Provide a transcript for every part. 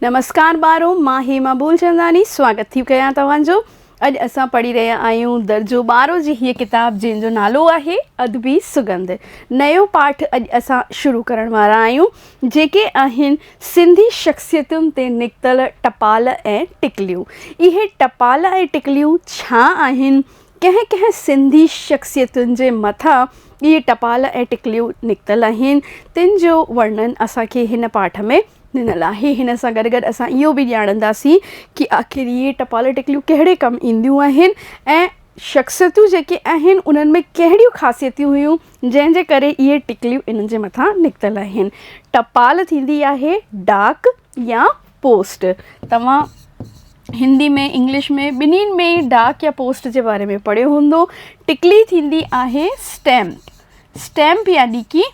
نمسڪار ٻارو مان هيما ٻولچنداني سواگت ٿي ڪيان توهان جو اڄ اسان پڙهي رهيا آهيون درجو ٻارو جي هيء ڪتاب جنهن جو نالو آهي ادبي سڳنڌ نيو پاٺ اڄ اسان شروع ڪرڻ وارا آهيون جيڪي آهن سنڌي شخصيتن تي نڪتل ٽپال ۽ ٽڪليون اهي ٽپال ۽ ٽڪليون ڇا آهن ڪنهن ڪنهن سنڌي شخصيتن جي مٿان اهي ٽپال ۽ ٽڪليون نڪتل آهن تن جو ورنن اسان کي هن پاٺ ۾ ڏنل آهي هن سان گڏ گڏ اسان اهو به ڄاڻنداسين ڪي آخر هي ٽپالي ٽڪليون ڪهڙي ڪم اينديون آهن ۽ شخصيتون جيڪي آهن انهن ۾ ڪهڙيون خاصيتيون هيون جنهن جي ڪري اهي ٽڪليون انهن جي مٿان نڪتل آهن ٽپال ٿيندي آهي ڊاڪ يا پوسٽ توهان هندي ۾ انگلش ۾ ٻنهي ۾ ڊاڪ يا پوسٽ جي باري ۾ پڙهيو هوندو ٽڪلي ٿيندي آهي اسٽيمپ اسٽيمپ يعني ڪي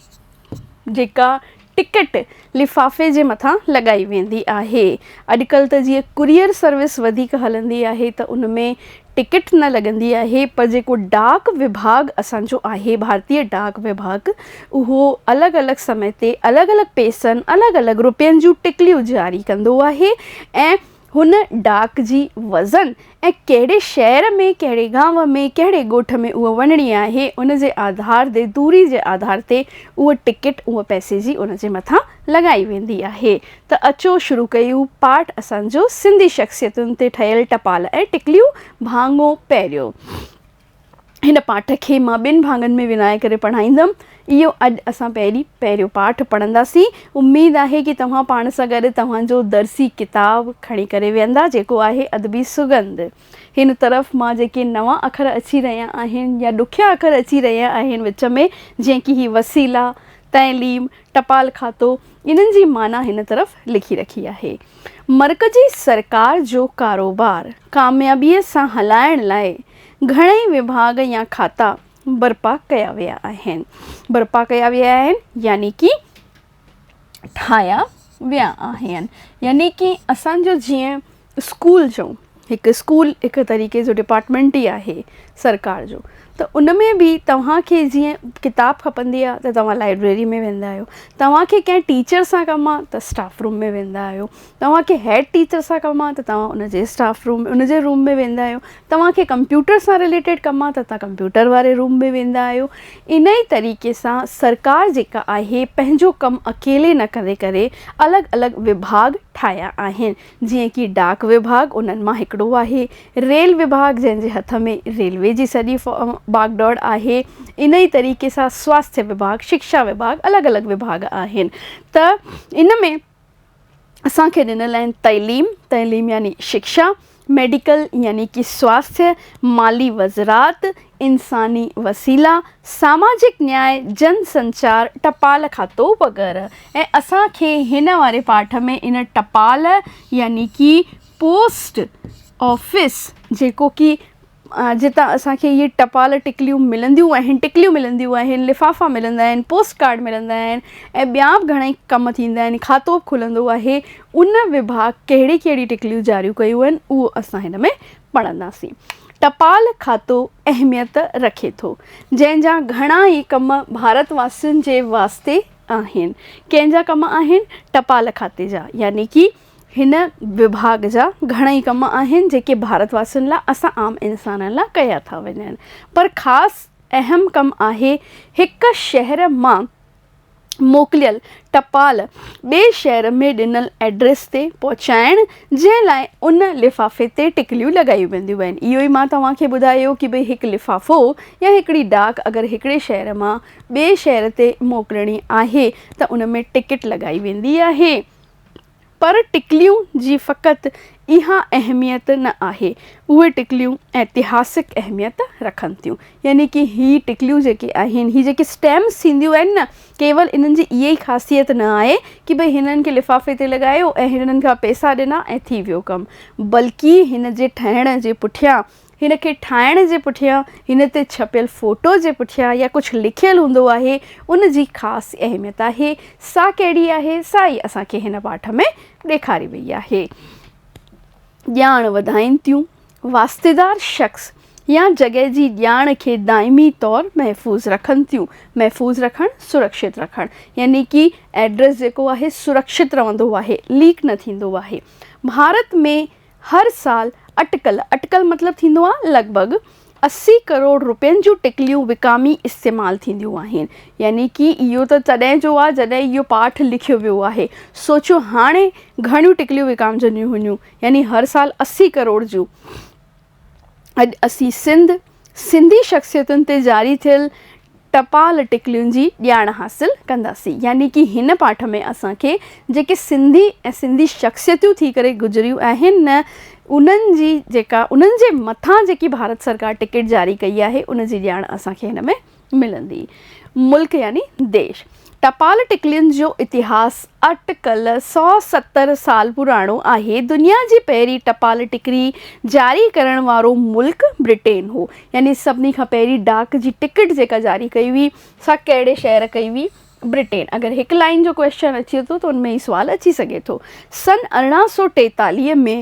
جيڪا ٽڪٽ لفافي جي مٿان لڳائي ويندي آهي. اڄڪلهه ته جيئن ڪوريئر سروس وڌيڪ هلندي آهي ته ان ۾ ٽڪٽ نه لڳندي آهي پر جيڪو ڊاڪ وڀاڳ اسان جو آهي ڀارتي ڊاڪ وڀاڳ اهو الڳ الڳ سمي تي الڳ الڳ پئسن الڳ الڳ روپين جون ٽڪليون جاري ڪندو آهي ۽ هن ڊاڪ جي وزن ۽ ڪهڙي شهر ۾ ڪهڙي گانء ۾ ڪهڙي ڳوٺ ۾ اهو وڃڻي آهي ان جي آڌار تي دوري جي آڌار تي اهو ٽڪيٽ اهو پئسي جي ان جي مٿان لڳائي ويندي آهي ته اچو شروع ڪيون پاٽ اسان جو سنڌي شخصيتن تي ٺهيل ٽپال ۽ ٽڪليون ڀاڱو پهريون هن پاٺ کي مان ٻن ڀاڱن ۾ ورهائي ڪري پڙهائيندم. اهو اڄ اسان پهرين پهريون پاٺ پڙهنداسين. اميد آهي ڪي توهان پاڻ سان گڏ توهان جو درسي ڪتاب کڻي ڪري ويهندا جيڪو آهي ادبي سڳنڌ. هن طرف مان جيڪي نوان اکر اچي رهيا آهن يا ڏکيا اکر اچي رهيا آهن وچ ۾ جيئن ڪي هي وسيلا، تعليم، ٽپال کاتو انهن جي معنيٰ هن طرف لکي رکي آهي. مرڪزي سرڪار جو ڪاروبار ڪاميابيء سان هلائڻ لاء گهڻئي وڀاڳ يا کاتا برپا ڪيا ويا آهن. برپا ڪيا ويا آهن يعني ڪي ٺاهيا ويا آهن. يعني ڪي اسان جو جيئن اسڪول جو هڪ اسڪول هڪ طريقي جو ڊپارٽمينٽ ئي آهي سرڪار جو ته ان ۾ به توهان کي جيئن ڪتاب کپندي آهي ته توهان لائبريري ۾ ويندا آهيو. توهان کي ڪنهن ٽيچر سان ڪم آهي ته اسٽاف روم ۾ ويندا آهيو. توهان کي هيڊ ٽيچر سان ڪم آهي ته توهان ان جي اسٽاف روم ان جي روم ۾ ويندا آهيو توهان کي ڪمپيوٽر سان رليٽيڊ ڪم آهي ته توهان ڪمپيوٽر واري روم ۾ ويندا آهيو ان ئي طريقي سان سرڪار جيڪا آهي پنهنجو ڪم اڪيلي نه ڪري ڪري الڳ الڳ وڀاڳ ٺاهيا آهن جيئن ڪي ڊاڪ وڀاڳ انهن مان هڪڙو آهي ريل وڀاڳ جنهن جي هٿ ۾ ريلوي جي سڄي باگ ڊوڙ آهي ان ئي طريقي سان سواستي وڀاڳ شڪشا وڀاڳ الڳ الڳ وڀاڳ آهن ته ان ۾ اسان کي ڏنل آهن تعليم، تعليم يعني شڪشا، ميڊيڪل يعني ڪي سواستھ، مالي وزرات، انساني وسيلا، ساماجڪ نياء، جن سنچار، ٽپال کاتو وغيره ۽ اسان کي هن واري پاٺ ۾ ان ٽپال يعني ڪي پوسٽ آفيس جيڪو ڪي جتان اسان کي اهي ٽپال ٽڪليون ملنديون آهن، ٽڪليون ملنديون آهن، لفافا ملندا آهن، پوسٽ ڪارڊ ملندا آهن ۽ ٻيا به گهڻائي ڪم ٿيندا آهن، کاتو به کلندو آهي، ان وڀاڳ ڪهڙي ڪهڙي ٽڪليون جاريون ڪيون آهن اهو اسان هن ۾ پڙهنداسين. ٽپال کاتو اهميت رکي ٿو، جنهن جا گهڻا ئي ڪم ڀارت واسين جي واسطي آهن، ڪنهن جا ڪم آهن؟ ٽپال کاتي جا يعني ڪي هن وڀاڳ جا گهڻئي ڪم آهن جيڪي ڀارت واسين لاء اسان عام انسانن لاء ڪيا ٿا وڃن پر خاص اهم ڪم آهي هڪ شهر مان موڪليل ٽپال ٻئي شهر ۾ ڏنل ائڊريس تي پهچائڻ جنهن لاء ان لفافي تي ٽڪليون لڳايون وينديون آهن اهو ئي مان توهان کي ٻڌايو ڪي ڀئي هڪ لفافو يا هڪڙي ڊاڪ اگر هڪڙي شهر مان ٻئي شهر تي موڪلڻي آهي ته ان ۾ ٽڪيٽ لڳائي ويندي آهي پر ٽڪليون جي فقط اها اهميت نه آهي، اهي ٽڪليون ائتهاسڪ اهميت رکن ٿيون. يعني ڪي هي ٽڪليون جيڪي آهن، هي جيڪي اسٽيمپس ٿينديون آهن نه، ڪيول انهن جي اها ئي خاصيت نه آهي ڪي ڀئي هنن کي لفافي تي لڳايو ۽ هنن کان پئسا ڏنا ۽ ٿي ويو ڪم، بلڪه هن جي ٺهڻ جي پٺيان هن کي ٺاهڻ جي پٺيان، هن تي ڇپيل فوٽو جي پٺيان يا ڪجهه لکيل هوندو آهي، ان جي خاص اهميت آهي. سا ڪهڙي آهي، سا ئي اسان کي هن پاٺ ۾ ڏيکاري وئي آهي. ڄاڻ وڌائين ٿيون. واسطيدار شخص يا جڳهه جي ڄاڻ کي دائمي طور محفوظ رکن ٿيون. محفوظ رکڻ، سرڪشت رکڻ. يعني ڪي ايڊريس جيڪو آهي، سرڪشت رهندو آهي، ليڪ نه ٿيندو آهي. ڀارت ۾ هر سال اٽڪل، اٽڪل مطلب ٿيندو آ لڳ ڀڳ، اسي ڪروڙ رپين جون ٽڪليون وڪامي استعمال ٿينديون آهن. يعني ڪي اهو ته تڏهن جو آ جڏهن اهو پاٺ لکيو ويو آهي. سوچيو هاڻي گهڻيون ٽڪليون وڪامجنديون هونديون. يعني هر سال اسي ڪروڙ جون. اڄ اسين سنڌ، سنڌي شخصيتن تي جاري ٿيل ٽپال ٽڪلين جي ڄاڻ حاصل ڪنداسين يعني ڪي هن پاٺ ۾ اسان کي جيڪي سنڌي ۽ سنڌي شخصيتيون ٿي ڪري گذريون آهن نه انهن جي جيڪا انهن جي مٿان جيڪي ڀارت سرڪار ٽڪيٽ جاري ڪئي آهي ان جي ڄاڻ اسان کي هن ۾ ملندي ملڪ يعني ديش. ٽپال ٽڪلين جو اتهاس اٽ ڪل سؤ ستر سال پراڻو آهي. دنيا جي پهرين ٽپال ٽڪري جاري ڪرڻ وارو ملڪ برٽين هو. يعني سڀني کان پهرين ڊاڪ جي ٽڪٽ جيڪا جاري ڪئي هئي سا ڪهڙي شهر ڪئي هئي؟ برٽين. اگر هڪ لائين جو ڪويسچن اچي ٿو ته ان ۾ هي سوال اچي سگهي ٿو. سن ارڙهن سؤ ٽيتاليهه ۾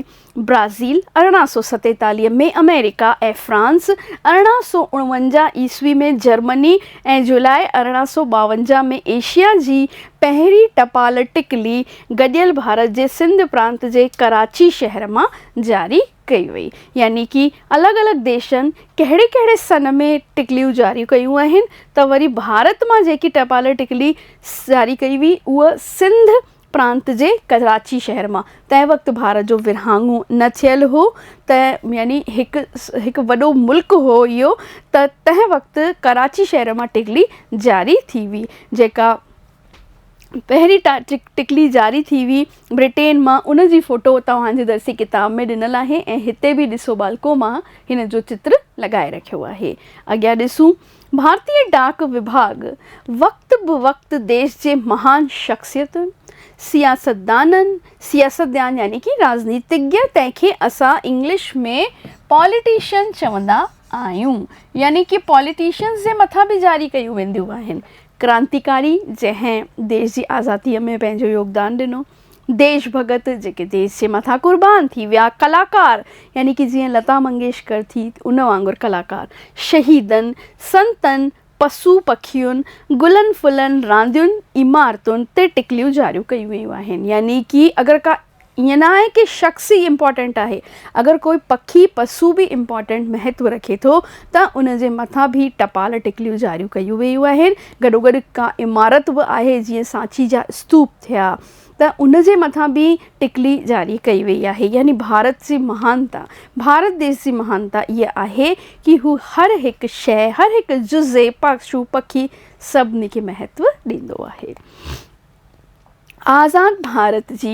برازيل، ارڙهن سؤ ستيتاليهه ۾ آمريڪا ۽ فرانس، ارڙهن سؤ اڻونجاهه عيسوي ۾ جرمني ۽ جولاء ارڙهن سؤ ٻاونجاهه ۾ ايشيا جي پهرين ٽپال ٽڪلي گڏيل ڀارت جي سنڌ پرانت جي ڪراچي شهر مان جاري ڪئي وئي. يعني ڪي الڳ الڳ ديشن ڪهڙي ڪهڙي سن ۾ ٽڪليون جاريون ڪيون آهن ته وري ڀارت مان جيڪي ٽپال ٽڪلي جاري ڪئي وئي اها سنڌ پرانت جي ڪراچي شهر مان تنهن وقت ڀارت جو ورهاڱو نه ٿيل هو ته يعني هڪ هڪ وڏو ملڪ هو اهو ته تنهن وقت ڪراچي شهر مان ٽڪلي جاري ٿي هئي جيڪا پهرين ٽڪلي جاري ٿي هئي برٽين مان ان جي فوٽو توهان جي درسي ڪتاب ۾ ڏنل آهي ۽ هتي به ڏسو ٻالڪو مان هن جو چتر لڳائي رکيو آهي اڳيان ڏسون ڀارتي ڊاڪ وڀاڳ وقت به وقت ديش جي مهان شخصيتن، سياستدانن، سياستدان يعني ڪي راڄنيتيگيا تنهن کي اسان انگلش ۾ پاليٽيشن چوندا آهيون يعني ڪي پاليٽيشنز جي مٿان به جاري ڪيون وينديون آهن. ڪرانتيڪاري جنهن ديش جي آزاديء ۾ پنهنجو يوگدان ڏنو. ديش ڀڳت جيڪي ديس جي مٿان قربان ٿي ويا، ڪلاڪار يعني ڪي جيئن لتا منگيشڪر ٿي ان وانگر ڪلاڪار، شهيدن، سنتن، پسو پکين، گلن ڦلن، راندين، عمارتن تي ٽڪليون جاريون ڪيون ويون آهن يعني ڪي اگر ڪا ائين نه آهي ڪي شخص ئي امپارٽنٽ آهي اگر ڪوئي پکي پسو به امپارٽنٽ مهتو رکي ٿو ته ان جي مٿان به ٽپال ٽڪليون جاريون ڪيون ويون آهن گڏوگڏ ڪا عمارت به آهي جيئن سانچي جا استوپ ٿيا ته ان جي مٿان ٻي ٽڪلي جاري ڪئي وئي آهي يعني ڀارت جي مهانتا ڀارت ديس جي مهانتا اها آهي ڪي هو هر هڪ شيء هر هڪ جزي پشو پکي سڀني کي مهتو ڏيندو آهي آزاد ڀارت جي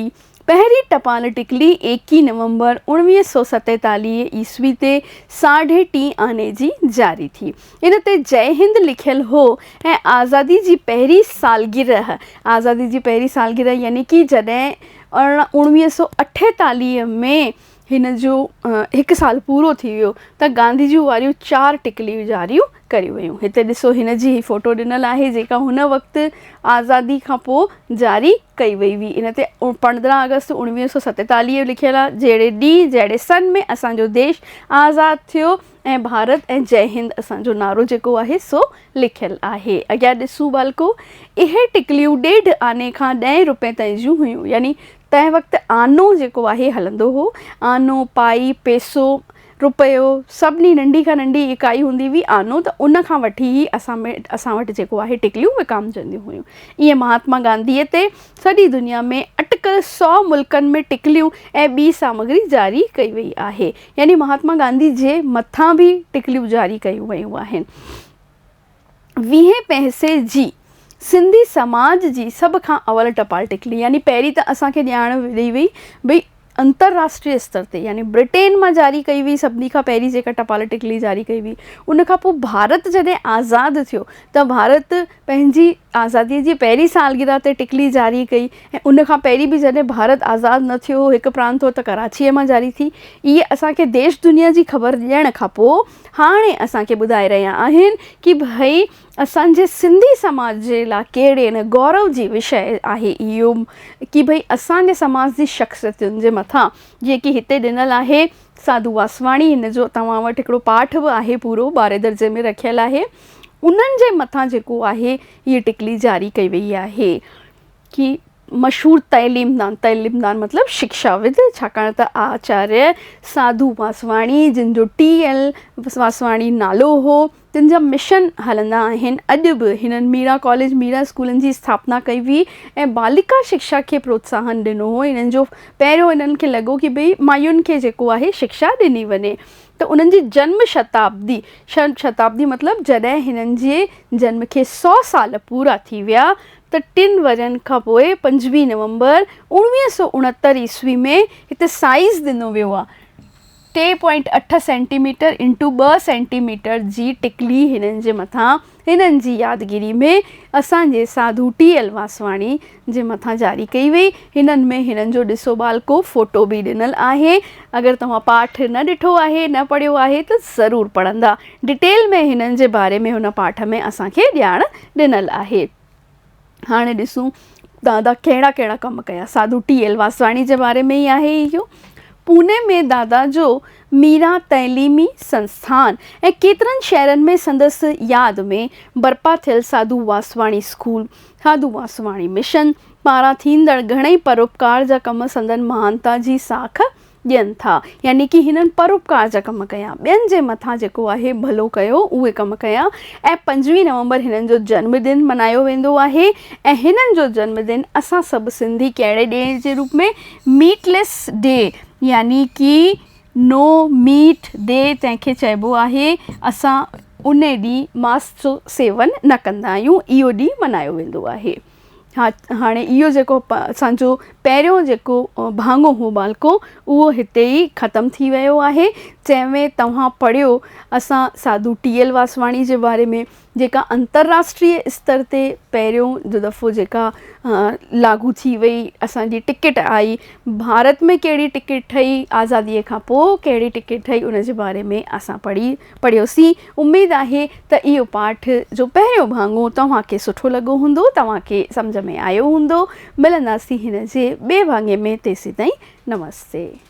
پهرين ٽپال ٽڪلي ايڪيهه نومبر اوڻويهه سؤ ستيتاليهه عيسوي تي ساڍي ٽي آني جي جاري ٿي ان تي جئي هند لکيل هو ۽ آزادي جي پهرين سالگرهه، آزادي جي پهرين سالگرهه يعني ڪي جڏهن اوڻويهه سؤ اٺيتاليهه ۾ هن جو هڪ سال پورو ٿي ويو ته گانڌي جون واريون چار ٽڪليون جاريون ڪريون ويون. هتي ڏسو هن جي هي فوٽو ڏنل آهي جيڪا هن وقت آزادي کان پوء جاري ڪئي وئي هئي ان تي پندرهن آگسٽ اوڻويهه سؤ ستيتاليهه لکيل آهي جهڙي ڏينهن جهڙي سن ۾ اسان جو ديش آزاد ٿيو ۽ ڀارت ۽ جئي هند اسان جو نعرو جيڪو آهي سو لکيل آهي. اڳيان ڏسون ٻالڪو! اهي ٽڪليون ڏيڍ آني کان ڏهين روپين تائين جون هيون. يعني تنهن وقت آنو جيڪو آهي هلندو هو. آنو، پائي، پيسو، روپيو، سڀني ننڍي کان ننڍي اڪائي هوندي هئي آنو ته ان کان وٺي هي اسان ۾ اسان وٽ جيڪو آهي ٽڪليون وڪامجنديون هيون. ائين مهاتما گانڌيء تي سڄي دنيا ۾ اٽڪل سؤ ملڪن ۾ ٽڪليون ۽ ٻي سامگري جاري ڪئي وئي آهي. يعني مهاتما گانڌي جي مٿان به ٽڪليون جاري ڪيون ويون آهن. ويهين پهسي جي سنڌي سماج جي سڀ کان اول ٽپال ٽڪلي يعني پهرين ته اسان کي ڄاڻ ڏئي وئي ڀئي انترراشٽري استر تي يعني برٽين مان جاري ڪئي وئي سڀني کان پهرين جيڪا ٽپال ٽڪلي جاري ڪئي وئي ان کان پوء ڀارت جڏهن آزاد ٿيو ته ڀارت پنهنجي آزاديء جي پهرين سالگرهه تي ٽڪلي جاري ڪئي ۽ ان کان پهرين به جڏهن ڀارت آزاد نه ٿيو هو، هڪ پراند هو ته ڪراچيء مان جاري ٿي. اهي اسان کي ديش دنيا جي خبر ڏيڻ کان پوء هاڻي اسان کي ٻڌائي رهيا آهن ڪي ڀئي اسان جي سنڌي سماج جي لاء ڪهڙي نه گورو جي وشيه آهي اهو ڪي ڀئي اسان جي سماج جي شخصيتن جي مٿان جيئن ڪي هتي ڏنل آهي ساڌو واسواڻي ان جو توهان وٽ هڪڙو پاٺ به آهي پورو ٻارهين درجي ۾ رکيل آهي. انهن جي مٿان جيڪو آهي هيء ٽڪلي جاري ڪئي ويئي آهي ڪي مشهور تعليمدان، تعليمدان مطلب شڪشاود، ڇاڪاڻ ته آچاريه ساڌو واسواڻي جن جو ٽي. ايل. واسواڻي نالو هو، تن جا مشن هلندا آهن. اڄ به هنن ميرا ڪاليج، ميرا اسڪولن جي اسٿاپنا ڪئي هئي ۽ ٻالڪا شڪشا کي پروتساهن ڏنو هو. انهن جو پهريون انهن کي لڳو ڪي ڀئي مايون کي جيڪو آهي شڪشا ڏني وڃي. ته انهن جي جنم شتابدي، شنم شتابدي مطلب جڏهن هنن جي جنم کي سؤ سال پورا ٿي ويا ته ٽن ورهين کان پوء پنجويهه نومبر اوڻويهه سؤ اڻهتر عيسوي ۾ هتي سائيز ڏنو ويو آهي. ٽي پوائنٽ اٺ سينٽي ميٽر انٽو ٻه سينٽي ميٽر جي ٽڪلي هنن جي مٿان هنن جي يادگيري ۾ اسان جي ساڌو ٽي ايل واسواڻي جي مٿان جاري ڪئي وئي. هنن ۾ هنن جو ڏسو ٻالڪو فوٽو به ڏنل آهي. اگر توهان پاٺ نه ڏٺو آهي، نه پڙهيو آهي ته ضرور پڙهندا. ڊٽيل ۾ هنن جي باري ۾ هن پاٺ ۾ اسان کي ڄاڻ ڏنل آهي. هاڻي ڏسون دادا ڪهڙا ڪهڙا ڪم ڪيا ساڌو ٽي ايل واسواڻي جي باري ۾ ئي آهي اهو پوني ۾ دادا جو ميرا تعليمي سنسٿان ۽ ڪيترن شهرن ۾ سندس ياد ۾ برپا ٿيل ساڌو واسواڻي اسڪول ساڌو واسواڻي مشن پاران ٿيندڙ گهڻئي پروپڪار جا ڪم سندن مهانتا جي ساک ڏين ٿا يعني ڪي هنن پروپڪار جا ڪم ڪيا ٻين جي مٿان جيڪو آهي ڀلو ڪيو اهي ڪم ڪيا ۽ پنجويهه نومبر هنن جو جنم ڏن منايو ويندو آهي ۽ هنن جو جنم ڏن اسان سڀ سنڌي ڪهڙي ڏي جي روپ ۾ ميٽ ليس ڊي يعني ڪي نو ميٽ ڊي تنهن کي چئبو آهي اسان انهي ڏينهن ماس جو سيون نه ڪندا آهيون اهو ڏينهن منايو ويندو آهي. ها هاڻي اهو جيڪو اسان جو پهريون جيڪو ڀاڱو هو ٻالڪو اهو هتي ئي ختم ٿي ويو آهي جنهن ۾ توهان پڙهيو اسان ساڌو ٽي ايل واسواڻي جي باري ۾ جيڪا انترراشٽري استر تي پهريون جو دفعو جيڪا لاڳو ٿي وئي اسان جي ٽڪيٽ آئي ڀارت ۾ ڪهڙي ٽڪيٽ ٺهي آزاديء کان پوء ڪهڙي ٽڪيٽ ٺهي ان جي باري ۾ اسان پڙهي پڙهيوسين، اميد آهي ته اهو پاٺ جو پهريون ڀاڱو توهان کي سٺو لڳو هوندو، توهان کي سمجهه ۾ آيو هوندو، ملنداسين هن جي ٻئي ڀاڱي ۾ تيسيتائين نمستي.